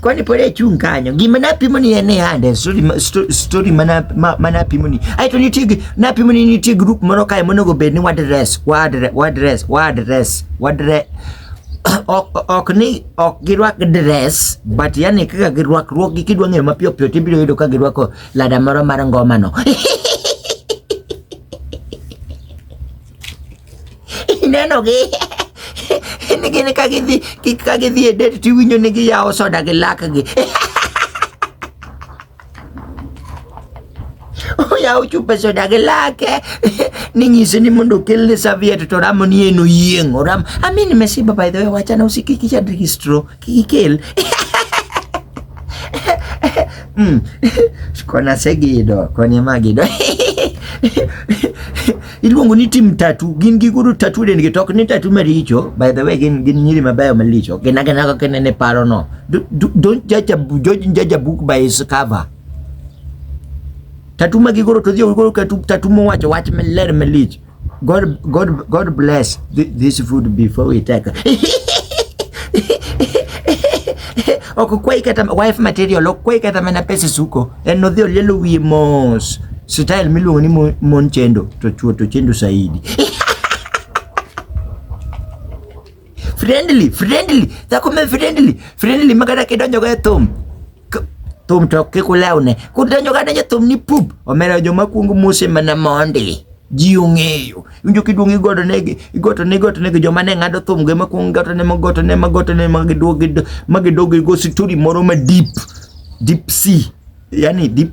Kwani pole achung' kanyo. Gima napimo ni en hande, story, story mana, ma, manapimo ni. Aito nitie, napimo ni nitie group moro kae monego bed ni wadres, wadres, wadres, wadres, wadres. ok, ok ni ok girwak dress but yani kaka girwakruok gi kidwa ng'eyo mapiyo piyo tibiro yudo ka girwako lada moro mar ngoma no ineno gi nigini ka gidhi ka gidhi e det tiwinjo ni giyawo soda gi lakgi oyawo chupe soda gi lake ninyise ni mondo okelne serviette to ramo ni en oyieng' oram amini mesiba by the way wachana usikiki chadri gi stroke Kikil. mm. Kona segido, kona magido. iluongo ni tim tatu gin giguro tatu den gi tok ni tatu maricho by the way gin gin nyiri mabeyo malicho gin agena kaka inene paro no don't judge a, judge, judge a book by its cover tatu ma gigoro to dhi ogoro tatu mowacho wach maler malich God, God, God bless this food before we take. ok kwai kata wife material ok kwai kata mana pesa suko en odhi olielo wiye mos style miluongo ni mon chendo to chuo to chendo saidi Friendly, friendly. Dhako me friendly. Friendly makata kidonjo ga e thum. Thum to ok kik ulewne. Kudonjo ga donjo thum ni pup. Omera joma kuongo mose mana mondi. Ji ong'eyo. Winjo kiduong' igoto negi, igoto ne igoto negi joma ne ng'ado thum gi makuongo igoto ne magoto ne magoto ne magiduog magiduog go story moro ma deep. Deep sea. Yani deep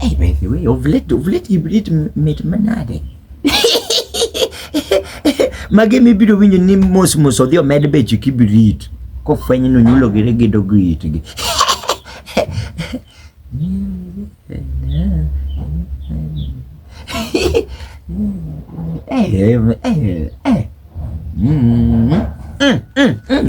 Ej, by the way, ovlet, ovlet hibrid mit manade. Mage mibiro winjo ni mos mos odhi omed beche kibrit kofweny ni onyulo gi regedo gi itgi. Hey, hey, hey, hey. Mm, mm, mm, mm.